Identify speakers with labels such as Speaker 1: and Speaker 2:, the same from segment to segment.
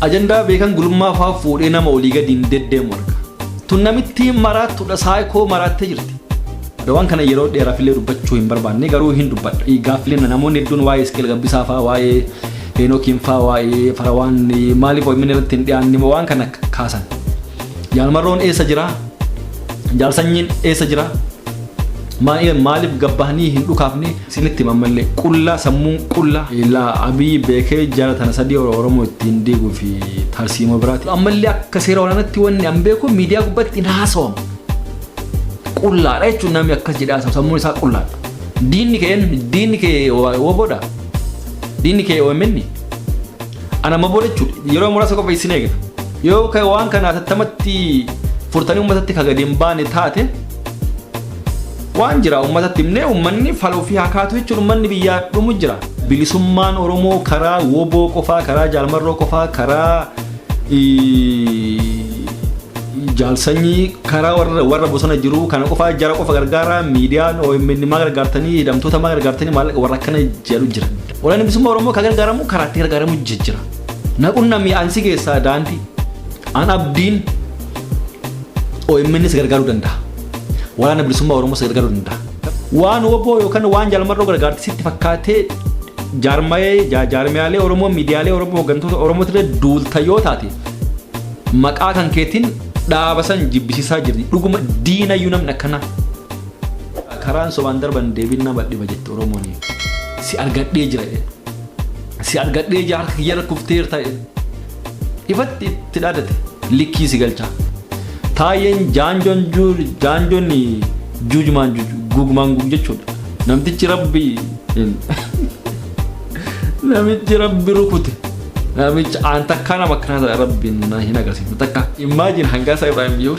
Speaker 1: Ajandaa beekan gulummaa faa fuudhee nama olii gadi hin deddeemu arga. Tun namittiin maraattudha saayikoo maraattee jirti. Adawaan kana yeroo dheeraaf illee dubbachuu hin barbaanne garuu hin dubbadha. Gaaffileen namoonni hedduun waa'ee Isqeel Gabbisaa faa waa'ee Heenookiin faa waa'ee Farawaan maaliif OMN irratti hin dhiyaanne moo waan kana kaasan. Jaalmarroon eessa jira? Jaalsanyiin eessa jira? Maaliif gabbahanii hin dhukaafne? Sinitti hima ammallee qullaa sammuun qullaa. Ilaa Abiy beekee jara tana sadii Oromoo ittiin diiguu fi tarsiimoo biraati. Ammallee akka seera waraanatti wanni an beeku miidiyaa gubbatti hin haasawamu. Qullaadha jechuun namni akkas jedhee haasawu sammuun isaa qullaadha. Diinni kee eenyu? Diinni kee woboodha? Diinni kee OMN? Ana maboo jechuudha. Yeroo muraasa qofa isin eegna. Yoo waan kana atattamatti furtanii uummatatti ka gadi hin baane taate Waan jira ummatatti himnee ummanni fala ofii haa kaatu jechuun ummanni biyyaa dhumu jira. Bilisummaan Oromoo karaa woboo qofaa, karaa jaalmarroo qofaa, karaa jaalsanyii, karaa warra, warra bosona jiru kana qofaa jara qofa gargaaraa miidiyaan OMN maa gargaartanii hidhamtoota maa gargaartanii maallaqa warra akkana jedhu jira. Waraanni bilisummaa Oromoo kan gargaaramu karaa itti gargaaramu jijjira. Naqunnamii ansi keessaa daandii an abdiin OMNs gargaaruu danda'a. waraana bilisummaa Oromoo si gargaaruu danda'a. Waan oboo yookaan waan jaalmarroo gargaarte sitti fakkaatee jaarmayee jaa- jaarmiyaalee Oromoo miidiyaalee Oromoo hooggantoota Oromoo irra duulta yoo taate maqaa kan keetiin dhaaba san jibbisiisaa jirti. Dhuguma diinayyuu namni akkanaa. Karaan sobaan darban deebiin nama dhiba jette Oromoon. Si argadhee jira jedhe. Si argadhee jira harka kiyya irra kufteerta jedhe. Ifatti itti dhaadate likkii si galcha. Taayyeen jaanjoon jaanjoon juujumaan gugumaan gug jechuudha. Namtichi rabbi namichi rabbi rukute. Namichi aan takkaa nama akkanaa ta'e rabbi hin agarsiisu takka. Immaajin hangaasaa Ibrahim yoo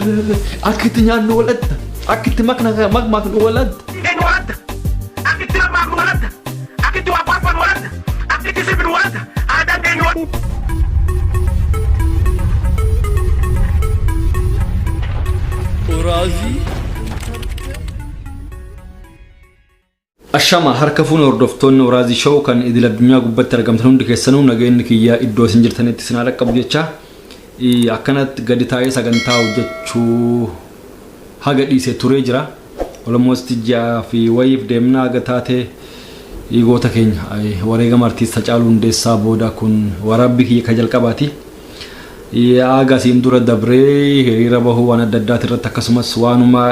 Speaker 1: akka itti nyaannu walatta akka itti makna makmaaknu walatta. Akkiti si biru waasa aadaan keenya waan. Oraazii Ashama harka fuun hordoftoonni Oraazii Show kan idil addunyaa gubbatti argamtan hundi keessanuu nageenyi kiyyaa iddoo isin jirtanitti isin haa dhaqqabu jecha eh, akkanatti gadi taa'ee sagantaa hojjechuu haga dhiise turee jira. Almost ji'a fi wayiif deemna haga taate goota keenya wareegama artiist Hacaaluu Hundeessaa booda kun waraabbii kiyya ka jalqabaati. Haga asiin dura dabree hiriira bahuu waan adda addaati irratti akkasumas waanuma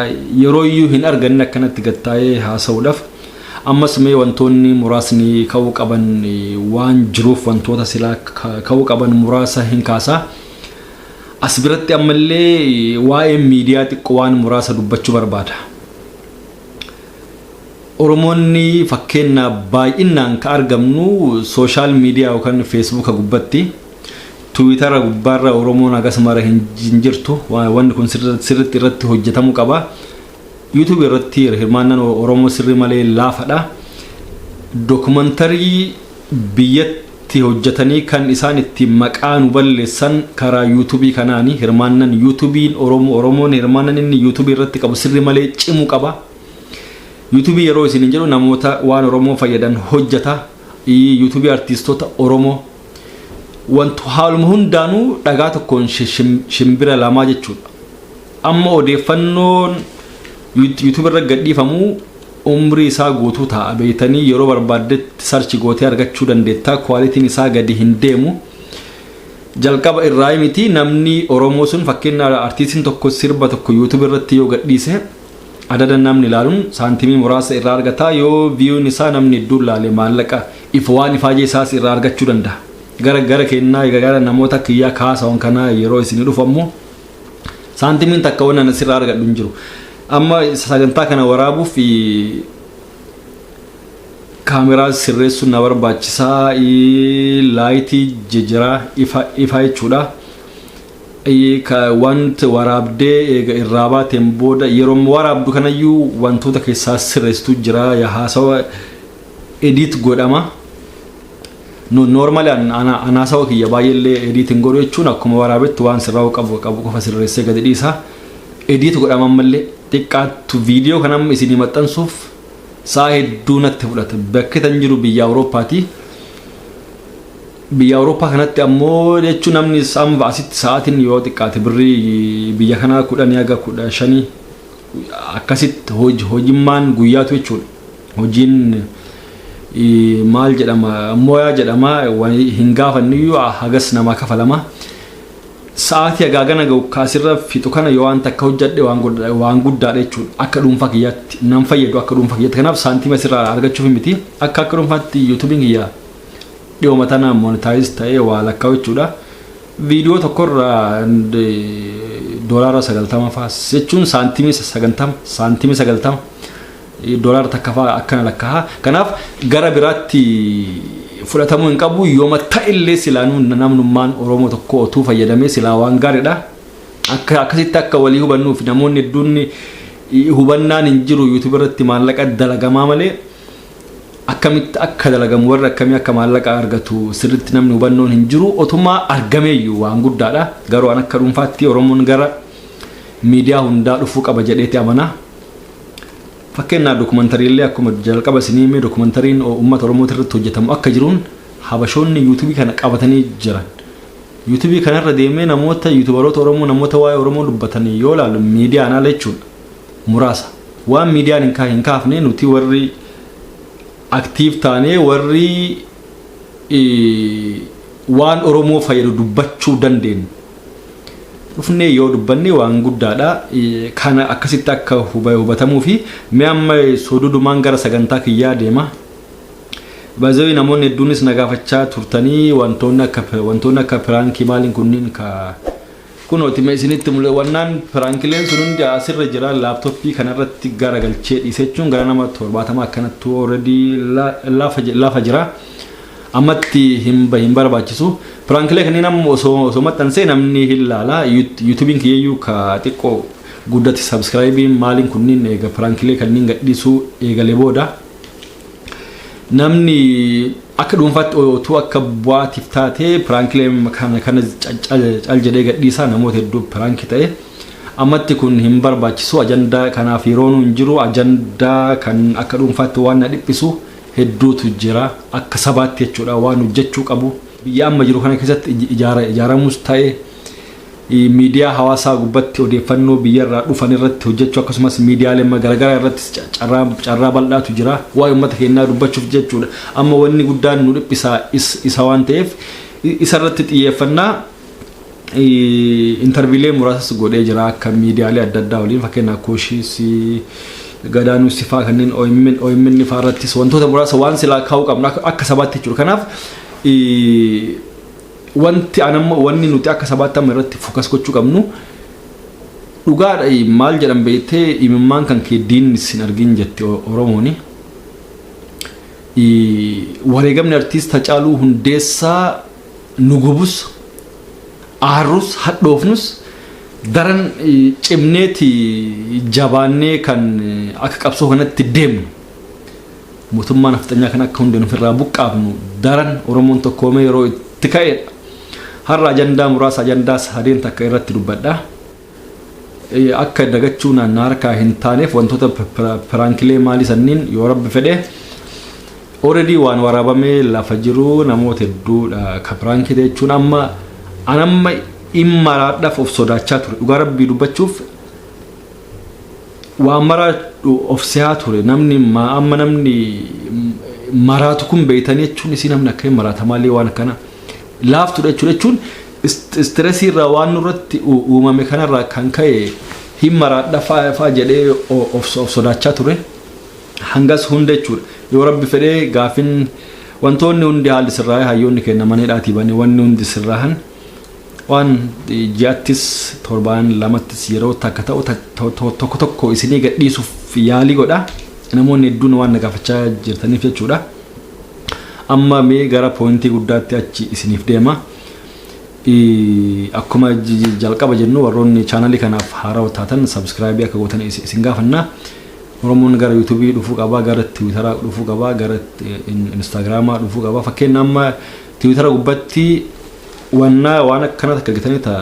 Speaker 1: yeroo iyyuu hin arganne akkanatti gad taa'ee haasa'uudhaaf ammas mee wantoonni muraasni ka'uu qaban waan jiruuf wantoota silaa ka'uu qaban muraasa hin kaasa. As biratti ammallee waa'ee miidiyaa xiqqoo waan muraasa dubbachuu barbaada. Oromoonni fakkeenyaaf baay'inaan ka argamnu sooshaal miidiyaa yookaan feesbuuka gubbatti tiwiitara gubbaarra Oromoon hagas mara hin hin jirtu Wa- wanni kun sirri- sirriitti irratti hojjetamuu qaba. Yuutuubii irratti hirmaannaan Oromoo sirrii malee laafadha. Dokumantarii biyyatti hojjatanii kan isaan ittiin maqaa nu balleessan karaa youtube kanaani hirmaannan youtube oromo oromoon hirmaannan inni youtube irratti qabu sirri malee cimu qaba youtube yeroo isin hin jedhu namoota waan oromoo fayyadan hojjata youtube artiistota oromoo wantu haaluma hundaanuu dhagaa tokkoon shimbira lamaa jechuudha Amma odeeffannoon YouTube irra gadhiifamu umrii isaa guutuu taa'a beektanii yeroo barbaaddetti sarchi gootee argachuu dandeetta kwaalitiin isaa gadi hin deemu jalqaba irraa miti namni Oromoo sun fakkeenya artiistiin tokko sirba tokko YouTube irratti yoo gadhiise adada namni ilaaluun saantimii muraasa irraa argata yoo viyuun isaa namni hedduun laale maallaqa if waan ifaajee isaas irraa argachuu danda'a gara gara kennaa gara namoota kiyyaa kaasawan kanaa yeroo isin dhufu ammoo Saantimiin takka waan ana sirraa argadhu hin jiru. Amma sagantaa kana waraabuuf kaameraa sirreessuun na barbaachisaa laayitii jijjiraa ifaa jechuudha. Wanti waraabdee eega irraa baateen booda yeroo waraabdu kanayyuu wantoota keessaa sirreessitu jira haasawa ediit godhama. Nu normally an ana anaasawa kiyya baay'ee illee edit hin godhu jechuun akkuma waraabetti waan sirraa'uu qabu qabu qofa sirreessee gadi dhiisa. Edit godhama ammallee xiqqaattu viidiyoo kan amma isinii maxxansuuf sa'a hedduu natti fudhata. Bakki tan jiru biyya Awurooppaati. Biyya Awurooppaa kanatti ammoo jechuun namni amma asitti sa'aatiin yoo xiqqaate birrii biyya kanaa kudhanii haga kudha shanii akkasitti hoj- hojimmaan guyyaatu jechuudha. Hojiin maal jedhama moyaa jedhama hin gaafannuyyuu hagas namaa kafalama. Sa'aatii hagaagana ga'u kaasirra fixu kana yoo waan takka hojjadhe waan guddaadha jechuudha. Akka dhuunfaa kiyyaatti nan fayyadu akka dhuunfaa kiyyaatti kanaaf saantiima sirraa argachuuf miti akka akka dhuunfaatti yuutuubiin kiyya dhiyooma tana monitaayiz ta'ee waa lakkaa'u jechuudha. Viidiyoo tokkorra doolaara sagaltama faas jechuun saantiimii sagantama saantiimii sagaltama. Doolaara takkafaa akkana lakkaa'a. Kanaaf gara biraatti fudhatamuu hin qabu. Yooma ta'ellee silaanuu namnummaan Oromoo tokkoo otuu fayyadamee silaa waan gaariidha. Akka akkasitti akka walii hubannuuf namoonni hedduun hubannaan hin jiru YouTube irratti maallaqa dalagamaa malee akkamitti akka dalagamu warri akkamii akka maallaqa argatu sirriitti namni hubannoon hin jiru. Otumaa argameeyyuu waan guddaadha. Garuu an akka dhuunfaatti Oromoon gara miidiyaa hundaa dhufuu qaba jedheeti amanaa. Fakkeenyaaf dokumentariillee akkuma jalqaba isinii himee dokumentariin uummata Oromooti irratti hojjetamu akka jiruun Habashoonni yuutubii kana qabatanii jiran. Yuutubii kanarra deemee namoota yuutubaroota Oromoo namoota waa'ee Oromoo dubbatan yoo ilaalu miidiyaan ala jechuudha. Muraasa. Waan miidiyaan hin kaafne nuti warri Active taanee warri waan Oromoo fayyadu dubbachuu dandeenyu dhufnee yoo dubbanne waan guddaadha. Kana akkasitti akka hubatamuu fi mee amma sodudumaan gara sagantaa kiyyaa deema. Baazawii namoonni hedduunis na gaafachaa turtanii wantoonni akka wantoonni akka piraankii maaliin kunniin ka Kunooti mee isinitti mule wannaan piraankileen sun hundi asirra jira laaptoppii kanarratti gara galchee dhiise jechuun gara nama torbaatama akkanattu already lafa jira ammatti hin bahin barbaachisu piraankilee kanneen amma osoo osoo maxxansee namni hin laala yuutubiin kiyyayyuu ka xiqqoo guddatti sabskraayibiin maaliin kunniin eega piraankilee kanneen gadhiisuu eegale booda namni akka dhuunfaatti otuu akka bu'aatiif taatee piraankilee kana kana cal jedhee gadhiisaa namoota hedduu piraanki ta'e ammatti kun hin barbaachisu ajandaa kanaaf yeroonuu hin jiru ajandaa kan akka dhuunfaatti waan na dhiphisu hedduutu jira akka sabaatti jechuudha waan hojjechuu qabu biyya amma jiru kana keessatti ijaaramus ta'e Miidiyaa hawaasaa gubbatti odeeffannoo biyyarraa dhufan irratti hojjachuu akkasumas miidiyaalee garagaraa irrattis carraa bal'aatu jira. Waa'ee ummata keennaa dubbachuuf jechuudha. Amma wanni guddaan nu dhiphisa isa waan ta'eef isa irratti xiyyeeffannaa interviilee muraasas godhee jira akka miidiyaalee adda addaa waliin fakkeenyaaf Kuushis, Gadaanuus faa kanneen OMN faa irrattis wantoota muraasa waan silaa kaa'uu qabna akka sabaatti jechuudha. Kanaaf Wanti an amma wanni nuti akka sabaatti amma irratti focus gochuu qabnu dhugaadha maal jedhan beektee imimmaan kan kee diinni sin argin jette Oromooni. Wareegamni artiist Hacaaluu Hundeessaa nu gubus aarrus hadhoofnus daran cimneeti jabaannee kan akka qabsoo kanatti deemnu. Mootummaa nafxanyaa kana akka hundeen ofirraa buqqaafnu daran Oromoon tokkoomee yeroo itti ka'edha. Har'a ajandaa muraasa ajandaa sadeen takka irratti dubbadha. Akka dagachuu na harkaa hin taaneef wantoota piraankilee maalii sanniin yoo rabbi fedhe already waan waraabamee lafa jiru namoota hedduudha ka piraankii jechuun amma an amma immaraadhaaf of sodaachaa ture dhugaa rabbii dubbachuuf Waan maraa of sehaa ture namni maa amma namni maraatu kun beeytanii jechuun isii namni akka hin maraata maalii waan akkana laaftudha jechuudha jechuun istiresii irraa waan nurratti uumame kanarraa kan ka'e hin maraadha fa'aa jedhee of sodaachaa ture hangas hunda jechuudha yoo rabbi fedhee gaafin wantoonni hundi haalli sirraa'ee hayyoonni kenna maneedhaatii bane wanni hundi sirraahan Waan ji'attis torbaan lamattis yeroo takka ta'u tokko tokko isinii gadhiisuuf yaalii godha. Namoonni hedduun waan na gaafachaa jirtaniif jechuudha. Amma mee gara pooyintii guddaatti achi isiniif deema. Akkuma jalqaba jennu warroonni chaanalii kanaaf haarawa taatan sabskraayibii akka gootan isin gaafanna. Oromoon gara yuutuubii dhufuu qaba, gara tiwiitaraa dhufuu qaba, gara instaagiraamaa dhufuu qaba. Fakkeenya amma Tiwitara gubbatti wanna waan akkana takka argitanii ta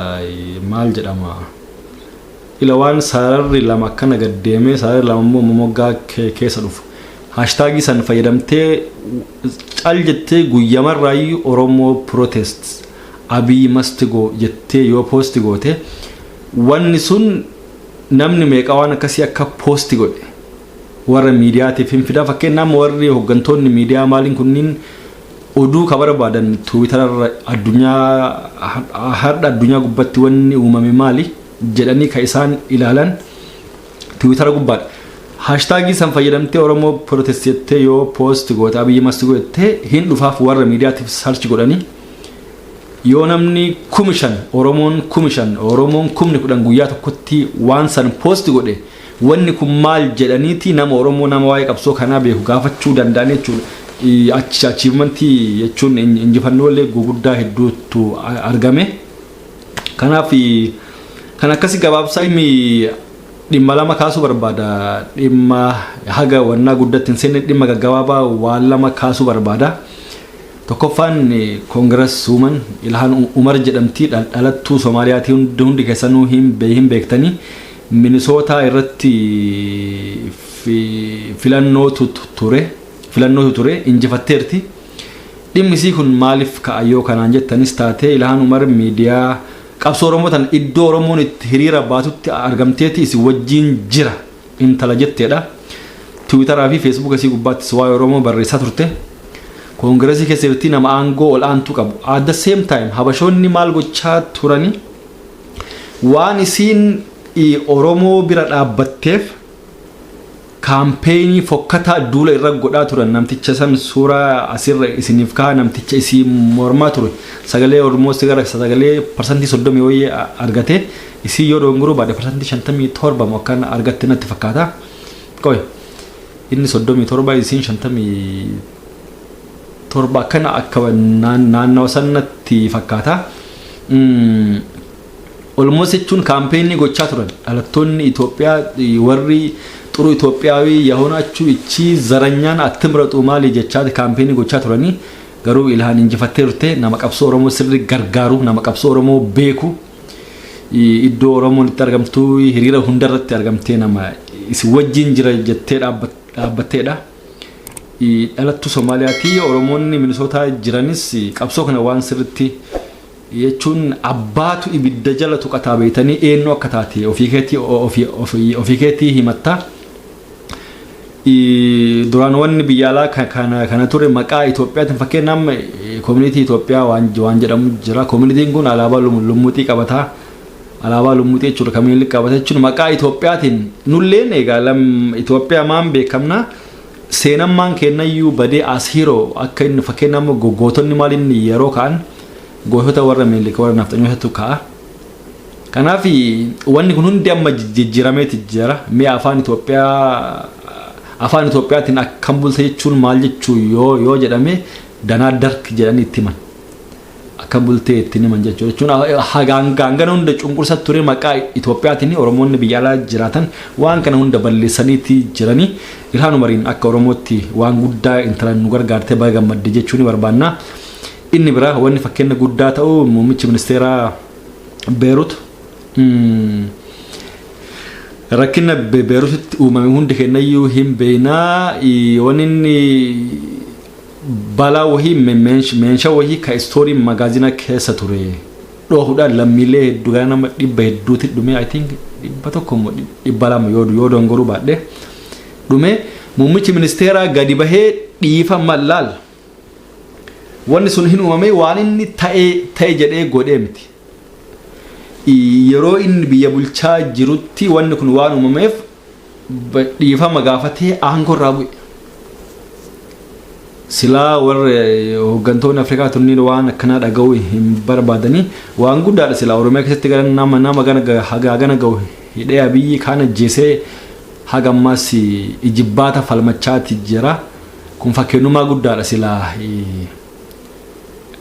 Speaker 1: maal jedhama ila waan sararri lama akkana gad deemee sararri lama immoo moggaa ke- keessa dhufu haashtaagii san fayyadamtee cal jettee guyyamarraayyuu oromoo protest abiy must go jettee yoo poosti goote wanni sun namni meeqa waan akkasii akka poosti godhe warra miidiyaatiif hin fida fakkeenyaaf warri hooggantoonni miidiyaa maaliin kunniin Oduu ka barbaadan Tiwitararra addunyaa hardha addunyaa gubbatti wanni uumame maali jedhanii ka isaan ilaalan Tiwitara gubbaadha. Haashtaagii san fayyadamtee Oromoo Protest jettee yoo post goote Abiyyi must go jettee hin dhufaaf warra miidiyaatiif search godhanii yoo namni kumi shan Oromoon kumi shan Oromoon kumni kudhan guyyaa tokkotti waan san post godhe Wanni kun maal jedhaniiti nama Oromoo nama waa'ee qabsoo kanaa beeku gaafachuu danda'an jechuudha. Achi achievement jechuun injifannoolee guguddaa hedduutu argame. Kanaaf kan akkasii gabaabsaa inni dhimma lama kaasuu barbaada. Dhimma haga wannaa guddatti hin seenne dhimma gaggabaabaa waan lama kaasuu barbaada. Tokkoffaan koongiras uuman Ilhaan Umar jedhamti dhalattuu Soomaaliyaatii hundi keessanuu hin beektanii. Minisootaa irratti filannootu ture, injifatteerti. Dhimmi isii kun maaliif ka'a yoo kanaan jettanis taate Ilhaan Umar miidiyaa qabsoo Oromoo tana iddoo Oromoon itti hiriira baatutti argamteeti isin wajjiin jira intala jetteedha. Tiwiitaraa fi Feesbuuka isii gubbaattis waa'ee Oromoo barreessaa turte. Koongiresii keessa jirti nama aangoo ol'aantuu qabu. At the same time Habashoonni maal gochaa turani? Waan isiin Oromoo bira dhaabbatteef kaampeenii fokkataa duula irra godhaa turan namticha san suuraa asirra isiniif kaa'a namticha isii mormaa ture sagalee almost gara sagalee parsantii 30 wayii argate isii yoo dogongoruu baadhe parsantii 57 moo akkan argatte natti fakkaata qoy inni 37 isiin 57 akkana akka naannawa san natti fakkaata. Olmoos jechuun kaampeenii gochaa turan dhalattoonni Itoophiyaa warri xuru Itoophiyaawii yahoon achuu ichii zaranyaan attimraxuu maalii jechaati kaampeenii gochaa turanii garuu ilhaan injifattee turte nama qabsoo Oromoo sirri gargaaru nama qabsoo Oromoo beeku iddoo Oromoon itti argamtuu hiriira hundarratti argamtee nama isin wajjiin jira jettee dhaabbatteedha. Dhalattuu Somaaliyaati. Oromoonni Minisootaa jiranis qabsoo kana waan sirritti jechuun abbaatu ibidda jala tuqataa beeytanii eenyu akka taate ofii keetii ofii- ofii- ofii keetii himatta. I- Duraan wanni biyya alaa ka- kana kana ture maqaa Itoophiyaatiin fakkeenya amma koominiitii Itoophiyaa waan waan jedhamu jira. Koominiitiin kun alaabaa lum- lummuuxii qabata. Alaabaa lummuxii jechuudha kan Minilik qabate jechuudha maqaa Itoophiyaatiin nulleen egaa lam Itoophiyaa maan beekamna seenan maan keennayyuu badee as hero akka inni fakkeenya amma gootonni maal inni yeroo ka'an gootota warra Minilik warra nafxanyootatu ka'a. Kanaaf wanni kun hundi amma jijjiirameeti jira mee afaan Itoophiyaa afaan Itoophiyaatiin akkam bulta jechuun maal jechuu yoo yoo jedhame danaa dark jedhanii itti himan. akka bultee ittiin himan jechuudha jechuun hagaan gaangana hunda cunqursa ture maqaa Itoophiyaatiin Oromoonni biyya alaa jiraatan waan kana hunda balleessaniiti jiranii Ilhaan Umariin akka Oromootti waan guddaa intalaan nu gargaarte baga gammadde jechuu ni barbaanna. Inni biraa wanni fakkeenya guddaa ta'u muummichi ministeeraa Beerut rakkina Beerutitti uumame hundi kennayyuu hin beeknaa wanni inni Balaa wahii meenshaa wahii ka istooriin magaazinaa keessa ture dhoohudhaan lammiilee hedduu gara nama dhibba hedduuti dhume I think dhibba tokko immoo dhibba lama yoo yoo dongoruu baadhe dhume muummichi ministeeraa gadi bahee dhiifama laal wanni sun hin uumamee waan inni ta'e ta'e jedhee godhee miti. Yeroo inni biyya bulchaa jirutti wanni kun waan uumameef dhiifama gaafatee aangoo irraa bu'e. Silaa warri hooggantoonni Afrikaa tunniin waan akkanaa dhaga'uu hin barbaadanii waan guddaadha silaa Oromiyaa keessatti gara nama nama gana hagaa gana ga'u hidhee abiyyi kaan ajjeesee haga ammaas ijibbaata falmachaati jira. Kun fakkeenyummaa guddaadha silaa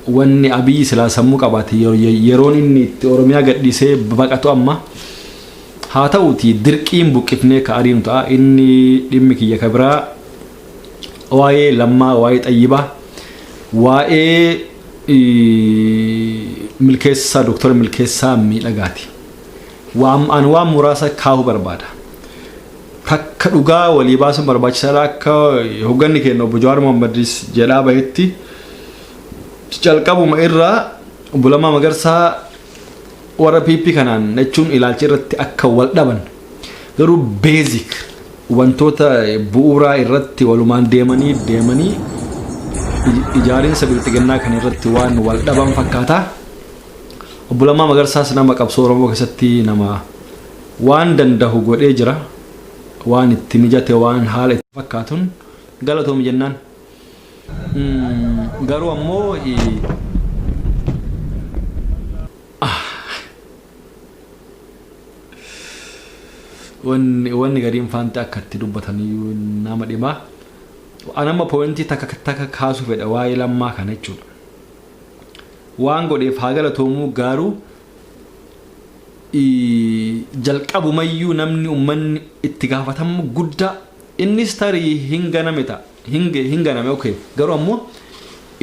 Speaker 1: wanni abiyyi silaa sammuu qabaate yeroon inni itti Oromiyaa gadhiisee baqatu amma. Haa ta'uutii dirqiin buqqifnee ka ariinu ta'a. Inni dhimmi kiyya ka biraa waa'ee Lammaa, waa'ee Xayyibaa, waa'ee Milkeessaa, Doktora Milkeessaa Miidhagaati. Waan an waan muraasa kaahuu barbaada. Takka dhugaa walii baasuun barbaachisaadha akka hogganni keenya obbo Jawaar Mohammadis jedhaa bahetti calqabuma irraa obbo Lammaa Magarsaa Warra PP kanaan jechuun ilaalcha irratti akka wal dhaban garuu basic wantoota bu'uuraa irratti walumaan deemanii deemanii ijaarinsa bilxiginnaa kan irratti waan wal dhaban fakkaata. Obbo Lammaa Magarsaas nama qabsoo Oromoo keessatti nama waan dandahu godhee jira. Waan itti mijate waan haala itti fakkaatun galatoomi jennaan. Garuu ammoo wanni gariin faanti akka itti dubbataniyyuu nama dhima. An amma pooyintii takka takka kaasuu fedha waa'ee lammaa kana jechuudha. Waan godheef haa galatoomuu garuu jalqabumayyuu namni ummanni itti gaafatamu guddaa innis tarii hin ganame ta'a. hin hin ganame okay garuu ammoo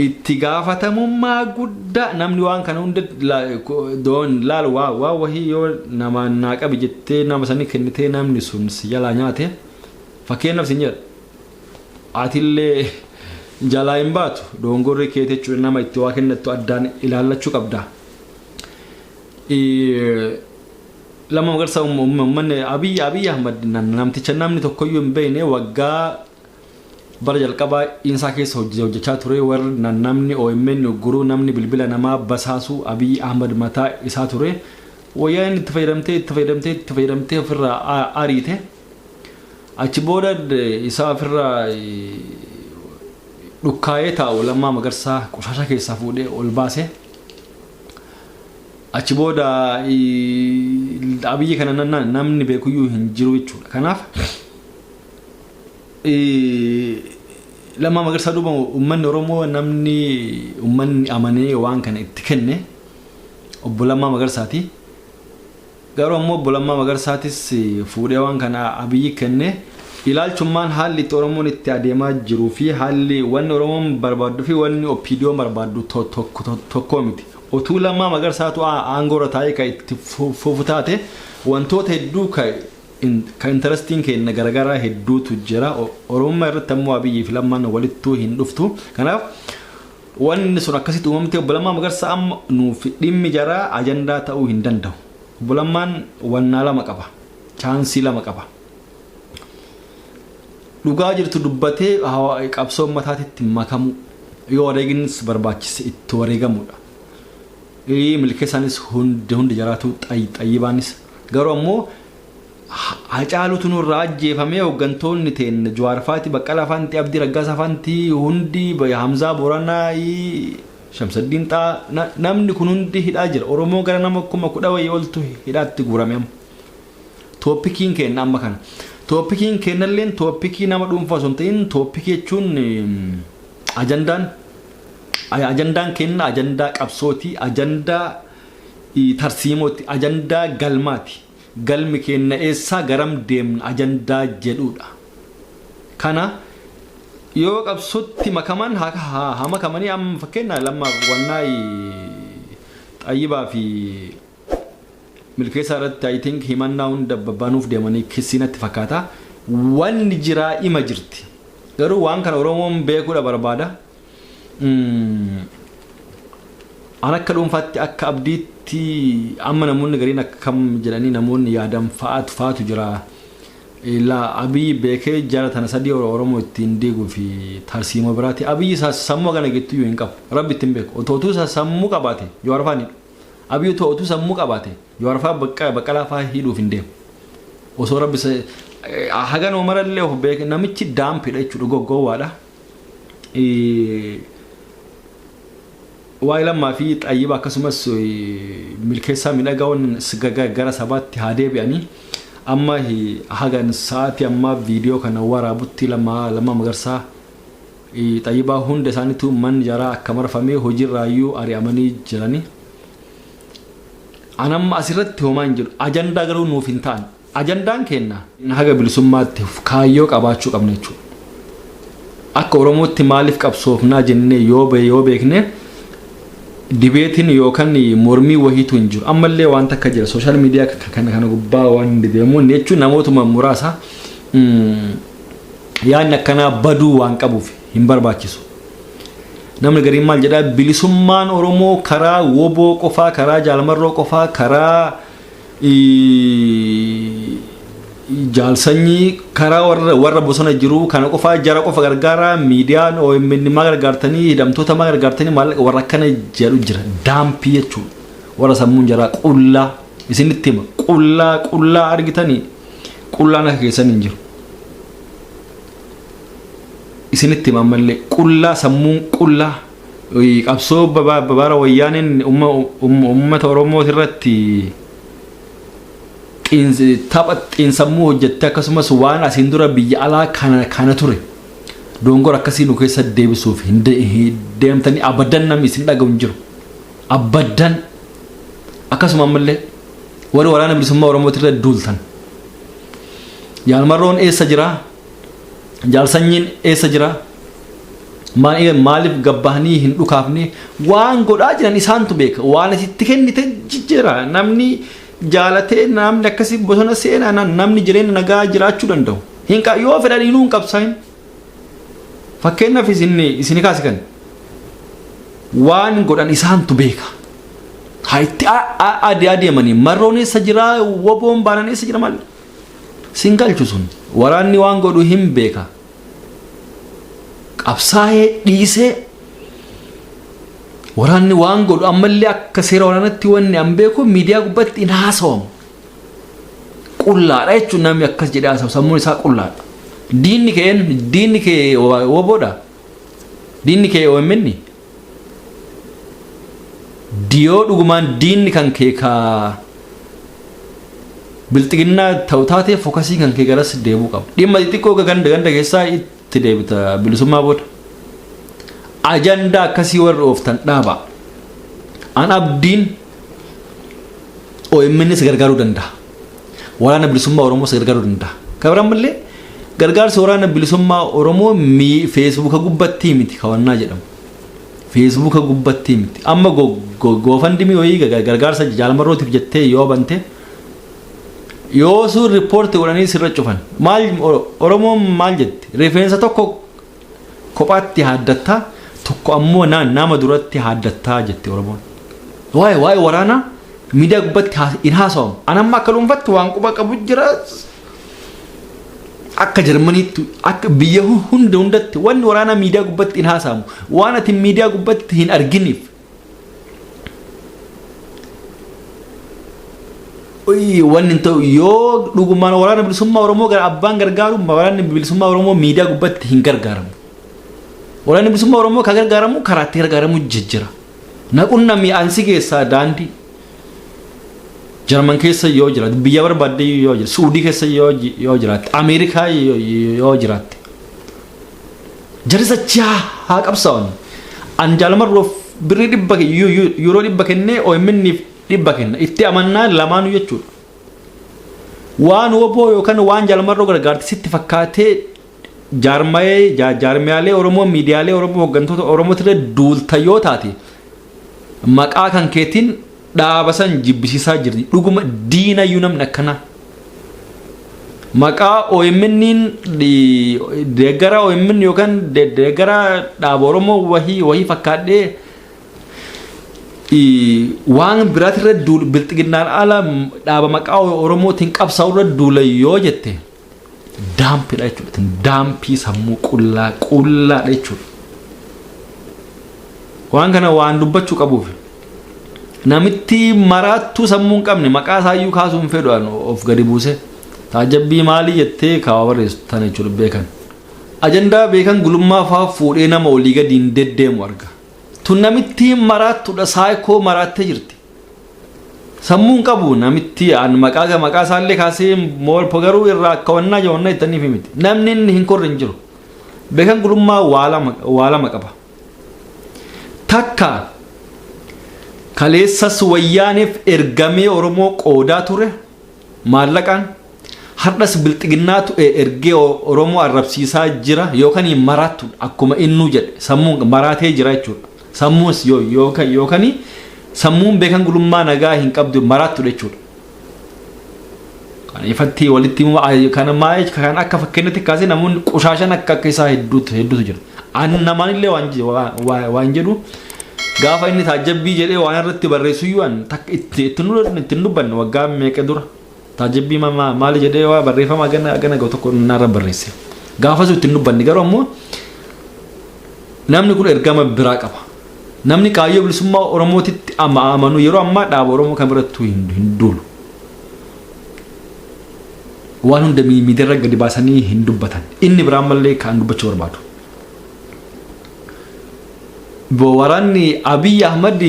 Speaker 1: itti gaafatamummaa guddaa namni waan kana hunda la- ko- doon laal waa waa wahii yoo nama naa qabi jettee nama sanii kennitee namni sun si jalaa nyaate fakkeenyaaf sin jedha atillee jalaa hin baatu doongorri kee jechuudha nama itti waa kennattu addaan ilaallachuu qabda. Eh, lama magarsa ummanni abiy abiy ahmad nam- namticha namni tokkoyyuu hin beekne waggaa Bara jalqabaa Insaa keessa hojii hojjachaa turee war na namni omn ugguruu namni bilbila namaa basaasuu Abiyi Ahmad mataa isaa turee Woyyaaneen itti fayyadamtee itti fayyadamtee itti fayyadamtee ofirraa a ariite achi booda isaa ofirraa dhukkaayee taa'u Lammaa Magarsaa qoshaashaa keessaa fuudhee ol baase achi booda Abiyi kana namni beekuyyuu hin jiru jechuudha kanaaf Lammaa Magarsaa duuba uummanni Oromoo namni uummanni amanee waan kana itti kenne obbo Lammaa Magarsaati. Garuu ammoo obbo Lammaa Magarsaatis fuudhee waan kana abiyyi kenne ilaalchummaan haalli itti Oromoon itti adeemaa jiruu fi haalli wanni Oromoon barbaadduu fi wanni OPDOn barbaaddu tokkoo miti. Otuu Lammaa Magarsaatu aangoorra taa'ee ka itti fufu taate wantoota hedduu ka Ka interesting keenna garagaraa hedduutu jira. Oromummaa irratti ammoo Abiyyii fi Lammaan walittuu hin dhuftu. Kanaaf wanni sun akkasitti uumamtee Obbo Lammaa Magarsaa amma nuuf dhimmi jaraa ajandaa ta'uu hin danda'u. Obbo Lammaan wannaa lama qaba. Chaansii lama qaba. Dhugaa jirtu dubbatee qabsoo ummataatitti makamuu. Yoo wareeginis barbaachise itti wareegamuudha. Milkeessaanis hundi hundi jaraatuu xayyibaanis Garuu ammoo Hacaalutu nurraa ajjeefamee hooggantoonni teenna Jawaar faati, Baqqalaa faanti, Abdii Raggaasaa faanti hundi Hamzaa Booranaa, Shamsaddiin Xaa namni kun hundi hidhaa jira. Oromoo gara nama kuma kudha wayii oltu hidhaatti guurame amma. Tooppikiin keenna amma kana. Tooppikiin keennalleen tooppikii nama dhuunfaa osoo hin ta'in tooppikii jechuun ajandaan ajandaan keenna ajandaa qabsootii ajandaa i. Tarsiimooti, ajandaa galmaati. Galmi keenna eessa, garam deemna ajandaa jedhuudha. Kana yoo qabsotti makaman haa makamanii amma fakkeenna lamma wannaa i Xayyibaa fi Milkeessaa irratti I think himannaa hunda banuuf deemanii kissii natti fakkaata. Wanni jiraa ima jirti. Garuu waan kana Oromoon beekuudha barbaada. An akka dhuunfaatti akka abdiitti amma namoonni gariin akkam jedhanii namoonni yaadan fa'aatu fa'aatu jira. Ilaa Abiy beekee jara tana sadii Oromoo ittiin diiguu fi tarsiimoo biraati. Abiy sammuu hagana geettu iyyuu hin qabu. Rabbi ittiin beeku. Otoo utuu sammuu qabaate Jawaar fa'aa hin hidhu. Abiy otoo utuu sammuu qabaate Jawaar fa'aa Baqqalaa fa'aa hidhuuf hin deemu. Osoo Rabbi haganuma marallee of beeke namichi daampidha jechuudha gowwaadha. waa'ee lammaa fi xayyiba akkasumas milkeessaa midhagaawwan gara sabaatti haa deebi'anii amma hagan sa'aatii ammaa viidiyoo kana waraabutti lammaa lammaa magarsaa xayyibaa hunda isaaniitu manni jaraa akka marfamee hojiirraayyuu ari'amanii jiranii. Anamma asirratti homaa hin jedhu ajandaa garuu nuuf hin ta'an Ajandaan keenna haga bilisummaatti kaayyoo qabaachuu qabna jechuudha. Akka Oromootti maaliif qabsoofnaa jennee yoo beekne dibeetiin yookan mormii wahiitu hin jiru. Ammallee waan takka jira sooshaal miidiyaa kana gubbaa waan hin dedeemuun jechuun namootuma muraasa yaadni akkanaa baduu waan qabuuf hin barbaachisu. Namni gariin maal jedhaa bilisummaan Oromoo karaa woboo qofaa karaa jaalmarroo qofaa karaa Jaal sanyii karaa warra, warra bosona jiru kana qofaa jara qofa gargaaraa miidiyaan OMN maa gargaartanii hidhamtoota maa gargaartanii maallaqa warra akkana jedhu jira daampii jechuudha warra sammuun jaraa qullaa isinitti hima qullaa qullaa argitanii qullaan akka keessan hin jiru isinitti hima ammallee qullaa sammuun qullaa qabsoo bara wayyaaneen uummata Oromoo irratti tapha xiinsammuu hojjette akkasumas waan asiin dura biyya alaa kana ture dongor akkasii nu keessa deebisuuf hin deemtanii abadan namni isin dhaga'u hin jiru. Abadan akkasuma ammallee warri waraana bilisummaa Oromoo irra duultan. Yaalmarroon eessa jira? jaal sanyiin eessa jira Maal- maaliif gabbahanii hin dhukaafne waan godhaa jiran isaantu beeka waan asitti kennite jijjiira namni jaalatee namni akkasii bosona seenaa na- namni jireenya nagaa jiraachuu danda'u hin qa- yoo fedhan inuu hin qabsaa'in fakkeenyaaf isin isin kaasi kan waan godhan isaantu beeka haa itti a- a- ade- adeemanii marroon eessa jira woboon baanaan eessa jira maal Sin galchu sun waraanni waan godhu hin beeka qabsaa'ee dhiisee waraanni waan godhu ammallee akka seera waraanatti wanni an beeku miidiyaa gubbatti hin haasawamu qullaadha jechuun namni akkas jedhee haasawu sammuun isaa qullaadha diinni kee diinni kee woboodha diinni kee OMN Diyoo dhugumaan diinni kan kee ka bilxiginnaa ta'u taatee fokasii kan kee garas deebuu qaba. Dhimma xixiqqoo ganda ganda keessaa itti deebita bilisummaa booda. Ajandaa akkasii warri ooftan dhaaba. An abdiin OMNs gargaaruu danda'a. waraana bilisummaa Oromoos gargaaruu danda'a. Kabrammallee gargaarsi waraana bilisummaa Oromoo feesbuuka gubbattii miti kawannaa jedhamu. Feesbuuka gubbattii miti. Amma goofandimii wayii gargaarsa jaalmarrootiif jettee yoo bante yoo sun riippoorti godhanii sirra cufan maal Oromoon maal jette rifeensa tokko Kophaatti haaddatta, tokko ammoo na, nama duratti haaddatta jetti Oromoon. Waa'ee waa'ee waraanaa miidiyaa gubbatti haa- hin haasawamu. An amma akka dhuunfatti waan quba qabu jira. Akka Jarmaniitti, akka biyya hu- hunda hundatti wanni waraanaa miidiyaa gubbatti hin haasawamu. Waan ati miidiyaa gubbatti hin arginiif. wanni ta'u yoo dhugumaan waraana bilisummaa Oromoo gara abbaan gargaaru waraanni bilisummaa Oromoo miidiyaa gubbatti hin gargaaramu. Waraanni bilisummaa Oromoo kan gargaaramu karaa itti gargaaramu jijjira. Naqunna mi'aansi keessaa daandii Jarman keessa yoo jiraate biyya barbaadde yoo jiraate Suudii keessa yoo yoo jiraate Ameerikaa yoo yoo jiraate Jari sachaa haa qabsaawani. An jaal marroof birrii dhibba yuuroo dhibba kennee OMN'f dhibba kenna. Itti amannaa lamaanuu jechuudha. Waan woboo yookaan waan jaal marroo gargaarte sitti fakkaatee jaarmayee jaarmiyaalee Oromoo miidiyaalee Oromoo hooggantoota Oromootirra duulta yoo taate Maqaa kan keetiin dhaaba san jibbisiisaa jirti. Dhuguma diinayyuu namni akkanaa. Maqaa OMN deeggaraa OMN yookaan deeggaraa dhaaba Oromoo wahii wahii fakkaadhee waan biraatirra duul bilxiginnaan ala dhaaba maqaa Oromootiin qabsaa'urra duula yoo jette. Daampidha jechuudha. Tin daampii sammuu qullaa qullaadha jechuudha. Waan kana waan dubbachuu qabuuf namitti maraattuu sammuu hin qabne maqaa isaayyuu kaasuu hin fedhu an of gadi buuse taajabbii maalii jettee kaawaa barreessu tana jechuudha beekan. Ajandaa beekan gulummaa fa'aa fuudhee nama olii gadi hin deddeemu arga. Tun namitti maraattudha saayikoo maraattee jirti. Sammuun qabu namitti an maqaa maqaa isaallee kaasee moolpo garuu irraa akka wannaa jawanna ittaniif himiti. Namni inni hin korre hin jiru. Beekan gulummaa waa lama qaba. Takka kaleessas wayyaaniif ergamee Oromoo qoodaa ture. Maallaqaan hardhas bilxiginnaatu ergee oromoo arrabsiisaa jira yookan maraattu akkuma innuu jedhe sammuun maraatee jira jechuudha sammuus yookan sammuun beekan gulummaa nagaa hin qabdu maraattu jechuudha. Kan ifatti walitti kan maa'ee kan akka fakkeenyatti kaasee namoonni qushaashan akka akka isaa hedduutu hedduutu jira. Ani namaan illee waan jedhu Gaafa inni taajjabbii jedhee waan irratti barreessuyyuu an takka itti itti nu itti hin dubbanne waggaa meeqa dura taajjabbii ma- ma- maali jedhee waa barreeffama agana agana ga'u tokko naarra barreesse. Gaafasuu itti hin dubbanne garuu ammoo namni kun ergama biraa qaba. Namni kaayyoo bilisummaa Oromootitti ama amanu yeroo ammaa dhaaba Oromoo kan birattuu hin, hin duulu. Waan hunda mi- miidiyaarra gadi baasanii hin dubbatan. Inni biraan mallee kan dubbachuu barbaadu. Bo waranni Abiy Ahmad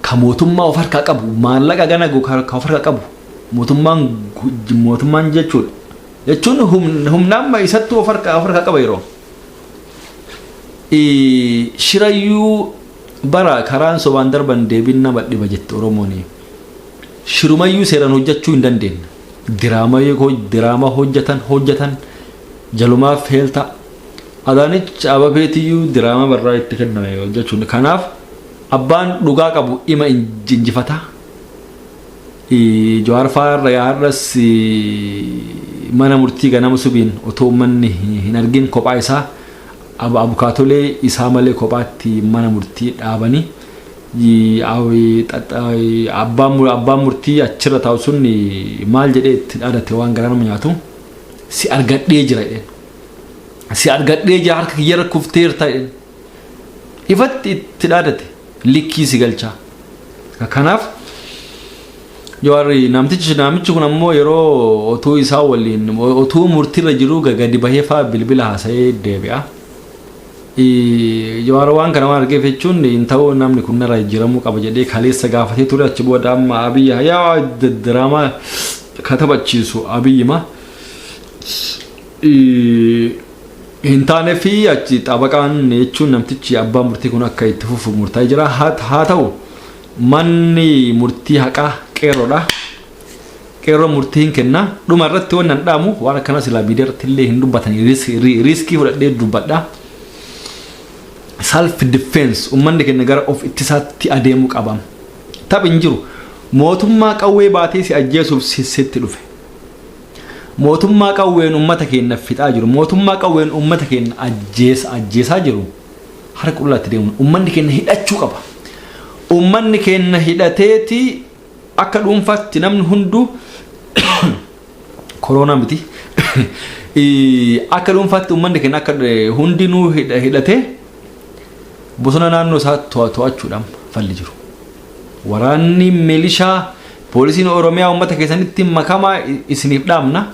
Speaker 1: ka mootummaa of harkaa qabu maallaqa gana go- ka ka of harkaa qabu mootummaan gu- j- mootummaan jechuudha. Jechuun humn- humna amma isattuu of harkaa of harkaa qaba yeroo. Eh, Shirayyuu bara karaan sobaan darban deebiin nama dhiba jette Oromooni. Shirumayyuu seeraan hojjechuu hin dandeenye. Diraamaa yoo hoj- diraamaa hojjetan hojjetan Jalumaa feelta Adaanech Ababeetiyyuu diraamaa barraa itti kenname hojjechuun kanaaf abbaan dhugaa qabu ima injifata Jawaar faa irra yaa har'as mana murtii ganama subiin otoo ummanni hin argin kophaa isaa abukaatolee isaa malee kophaatti mana murtii dhaabani abbaan murtii achirra taa'u sun maal jedhee itti dhaadate waan garaa nama nyaatu. si argadhee jira jedheen. Si argadhee jira harka kiyyarra kufteerta jedheen. Ifatti itti dhaadate likkii si galchaa. Kanaaf Jawaarri namtichi namichi kun ammoo yeroo otuu isaa waliin otuu murtiirra jiruu gadi bahee faa bilbila haasa'ee deebi'a. Jawaar waan kana waan argeef jechuun hin ta'uu namni kun narraa jijjiiramuu qaba jedhee kaleessa gaafatee ture achi booda amma abiyyi hayaa diraamaa ka taphachiisu abiyyima hin taane fi achi xabaqaan jechuun namtichi abbaa murtii kun akka itti fufu murtaa'ee jira haa ta'u manni murtii haqaa qeerroodha. Qeerroon murtii hin kenna. Dhuma irratti wanni an dhaamu waan akkanaa silaa miidiyaa irratti illee hin dubbatani riiskii fudhadhee dubbadha. Self defense ummanni keenya gara of ittisaatti adeemuu qaba. Taphi hin jiru. Mootummaa qawwee baatee si ajjeesuuf sitti dhufe. Mootummaa qawween ummata keenya fixaa jiru. Mootummaa qawween ummata keenya ajjeesaa jiru. Harka qullaatti deemuun ummanni keenya hidhachuu qaba. Ummanni keenya hidhateeti Akka dhuunfaatti namni hunduu koroonaa miti. Akka dhuunfaatti uummanni keenya akka hundinuu hidhatee bosona naannoo isaa to'achuudhaan falli jiru. Waraanni milishaa poolisiin Oromiyaa uummata keessanitti makamaa isiniif dhaamna.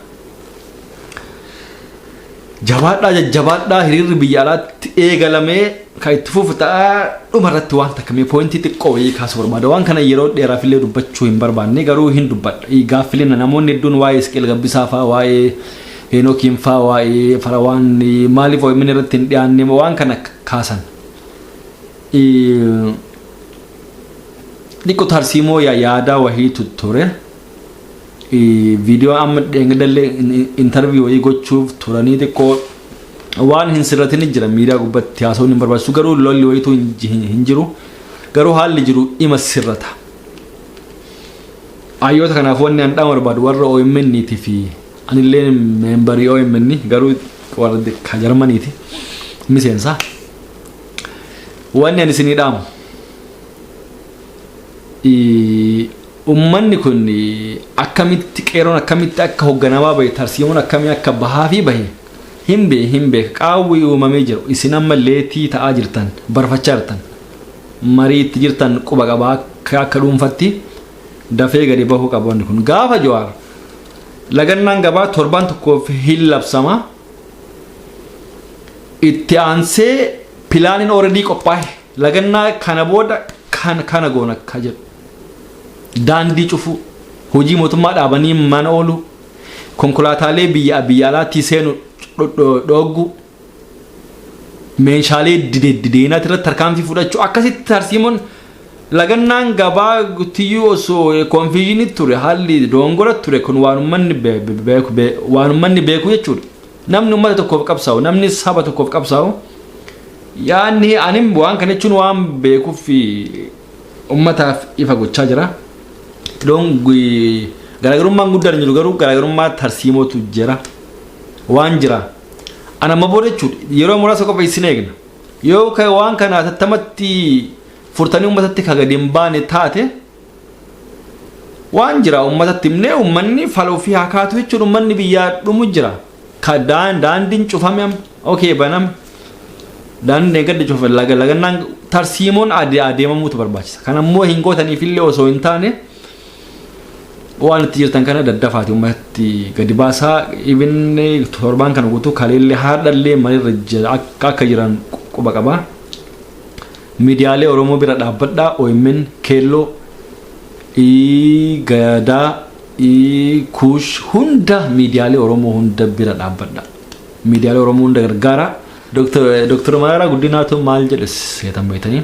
Speaker 1: Jabaadhaa jajjabaadhaa hiriirri biyya alaatti eegalamee kan itti fufu ta'a dhuma irratti waan takka mee poointii xiqqoo wayii kaasuu barbaada waan kana yeroo dheeraaf illee dubbachuu hin barbaanne garuu hin dubbadha gaaffileen namoonni hedduun waa'ee Isqeel Gabbisaa fa'aa waa'ee Heenokiin fa'aa waa'ee Farawaan maaliif OMN irratti hin dhiyaanne waan kana kaasan xiqqoo tarsiimoo yaadaa wahiitu ture. Video amma dheengadallee interview wayii gochuuf turanii xiqqoo waan hin sirratini jira miidiyaa gubbatti haasawuun hin barbaachisu garuu lolli wayiitu hin ji- hin- hin jiru garuu haalli jiru ima sirrata. Hayyoota kanaaf wanni an dhaama barbaadu warra OMN ti fi anillee meembarii OMN garuu warra ka Jarmanii ti miseensa. Wanni an isinii dhaamu. ii, Ummanni kun akkamitti qeeroon akkamitti akka hogganamaa bahe tarsiimoon akkamii akka bahaa fi bahe hin bee hin beeka qaawwi uumamee jiru isin amma leetii ta'aa jirtan barfachaa jirtan marii itti jirtan quba qaba akka akka dhuunfatti dafee gadi bahuu qaba wanni kun gaafa jawaar lagannaan gabaa torbaan tokkoof hin labsama itti aansee pilaaniin ooredii qophaa'e Lagannaa kana booda kan kana goona ka jedhu daandii cufuu, hojii mootummaa dhaabanii mana ooluu, konkolaataalee biyya biyya alaattii seenu dhoogguu, meeshaalee dideenaati irratti tarkaanfii fudhachuu akkasitti tarsiimoon lagannaan gabaa tiyyuu osoo konfiizhinii ture haalli doongora ture kun waan ummanni beeku jechuudha. Namni ummata tokkoof qabsaa'u, namni saba tokkoof qabsaa'u yaadni anim waan kana jechuun waan beekuuf fi ummataaf ifa gochaa jira. Iddoon gu- garaagarummaan guddaan hin jiru garuu garaagarummaa tarsiimootu jira. Waan jira. Ana amma booda jechuudha yeroo muraasa qofa isin eegna. Yoo ka- waan kana tattamatti furtanii ummatatti ka gadi hin baane taate waan jira ummatatti himnee ummanni fala ofii haa kaatu jechuun ummanni biyyaa dhumu jira Ka- daan- daandiin cufame amma okee baname daandiin deeggadda cufa laga lagannaan tarsiimoon ade- adeemamuutu barbaachisa kan ammoo hin gootaniif illee osoo hin taane waan itti jirtan kana daddafaati ummatatti gadi baasaa ibinne torbaan kana guutuu kaleellee haadhallee malirra jira akka akka jiran quba qabaa Midiyaalee oromoo bira dhaabbadhaa omn keelloo I gadaa I kuush hunda midiyaalee oromoo hunda bira dhaabbadhaa midiyaalee oromoo hunda gargaaraa. Doktar Maraaraa Guddinaatu maal jedhe seetan beektanii?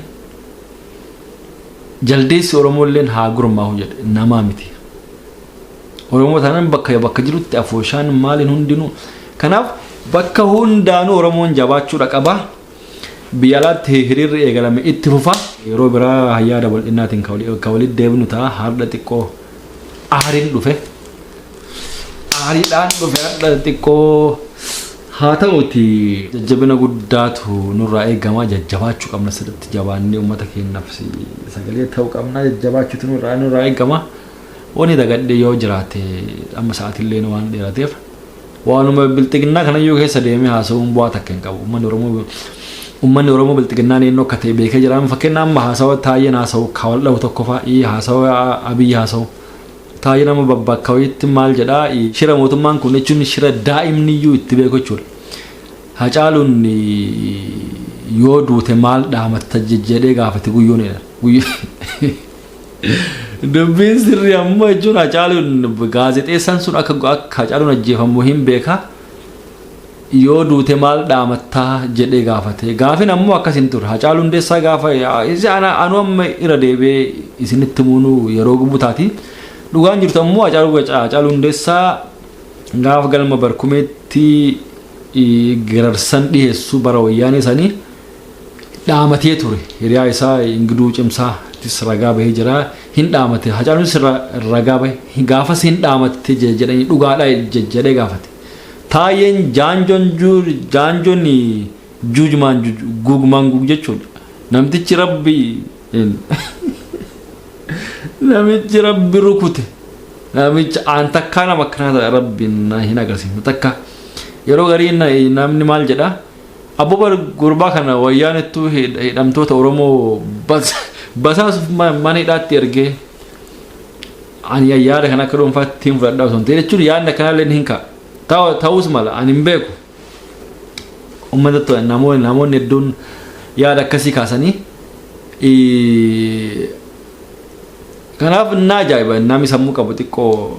Speaker 1: Jaldeessi Oromoolleen haa gurmaahu jedhe namaa miti. Oromoo taanaan bakka bakka jirutti afooshaan maaliin hundinuu. Kanaaf bakka hundaanuu Oromoon jabaachuudha qaba. Biyya alaatti hiriirri eegalame itti fufa. Yeroo biraa yaada bal'innaatiin ka walitti deebinu ta'a. Hardha xiqqoo aariin dhufe. Aariidhaan dhufe hardha xiqqoo haa ta'uti jajjabina guddaatu nurraa eegama. Jajjabaachuu qabna sirriitti jabaannee uummata keenyaaf sagalee ta'uu qabna. Jajjabaachuutu nurraa nurraa eegama. Wanni dagadhee yoo jiraate amma sa'aatillee waan dheerateef. Waanuma bilxiginnaa kanayyuu keessa deemee haasa'uun bu'aa takka hin qabu. Uummanni Oromoo Uummanni Oromoo bilxiginnaan eenyu akka ta'e beekee jira. Fakkeenya amma haasawa Taayyeen haasawu ka wal dhahu tokko fa'a ii haasawa Abiyyi haasawu. Taayyeen amma babbakka wayiitti maal jedhaa ii shira mootummaan kun jechuun shira daa'imniyyuu itti beeku jechuudha. Hacaaluun yoo duute maal dhaamatta jedhee gaafate guyyuun jedhan. Dubbiin sirrii ammoo jechuun Hacaaluun gaazexeessaan sun akka akka Hacaaluun ajjeefamu hin beeka. Yoo duute maal dhaamattaa jedhee gaafate. Gaafin ammoo akkas hin ture. Hacaaluu Hundeessaa gaafa isa ana anu amma irra deebi'ee isinitti muunuu yeroo gubu taati. Dhugaan jirtu ammoo Hacaaluu Hacaaluu Hundeessaa gaafa galma barkumeetti gararsan dhiheessu bara wayyaanee sanii dhaamatee ture hiriyaa isaa ingiduu cimsaa tis ragaa bahee jira hin dhaamate hacaaluun sirra ragaa bahe gaafas hin dhaamatte je- jedhanii dhugaadha je- jedhee gaafate taayeen jaanjoon ju- jaanjoon juujmaan juj- guugmaan guug jechuudha namtichi rabbi namichi rabbi rukute namichi aan takkaa nama akkanaa rabbiin na hin agarsiifne takka yeroo garii na- namni maal jedha Abbo bar gurbaa kana wayyaanettuu hid- hidhamtoota Oromoo bas- basaasuuf ma- mana hidhaatti ergee ani ya- yaada kana akka dhuunfaatti hin fudhadhaa osoo hin ta'in jechuun yaadni akkanaallee hin ka'a. Ta'u- Ta'us mala ani hin beeku. Uummata to- namoonni namoonni hedduun yaada akkasii kaasanii ii- kanaaf naa ajaa'iba namni sammuu qabu xiqqoo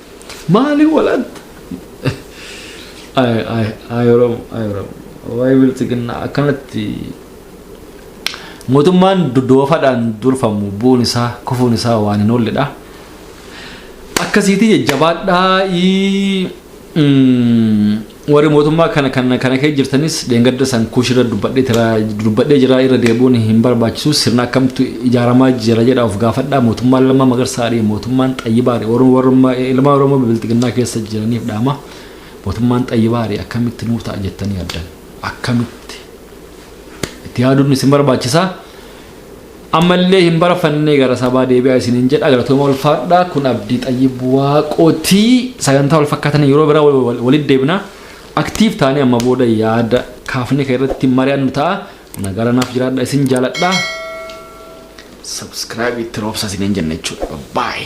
Speaker 1: Maali walatta? Ay ay ay Oromo ay Oromo waa'ee bilxiginnaa akkanatti mootummaan dodoofaadhaan durfamu bu'uun isaa kufuun isaa waan hin oolledha. Akkasiitii jajjabaadhaa. Warri mootummaa kana kana kana kee jirtanis dheengadda san kuush irra dubbadhee tira dubbadhee jira irra deebi'uun hin barbaachisu sirna akkamtu ijaaramaa jira jedha of gaafadhaa mootummaan Lammaa Magarsaadhi mootummaan Xayyibaadhi warra warra ilmaan Oromoo bilxiginnaa keessa jiraniif dhaama mootummaan Xayyibaadhi akkamitti nuu ta'a jettanii yaaddan akkamitti itti yaaduun isin barbaachisa Ammallee hin barafannee gara sabaa deebi'aa isiniin jedha galatooma ulfaadha kun abdii xayyib waaqootii sagantaa wal fakkaatanii yeroo biraa wal- wal- walitti deebina aktiif taanee amma booda yaada kaafne kan irratti mari'annu ta'a nagaara naaf jiraadha isin jaaladha subscribe itti roobsa isiniin jenna jechuudha bye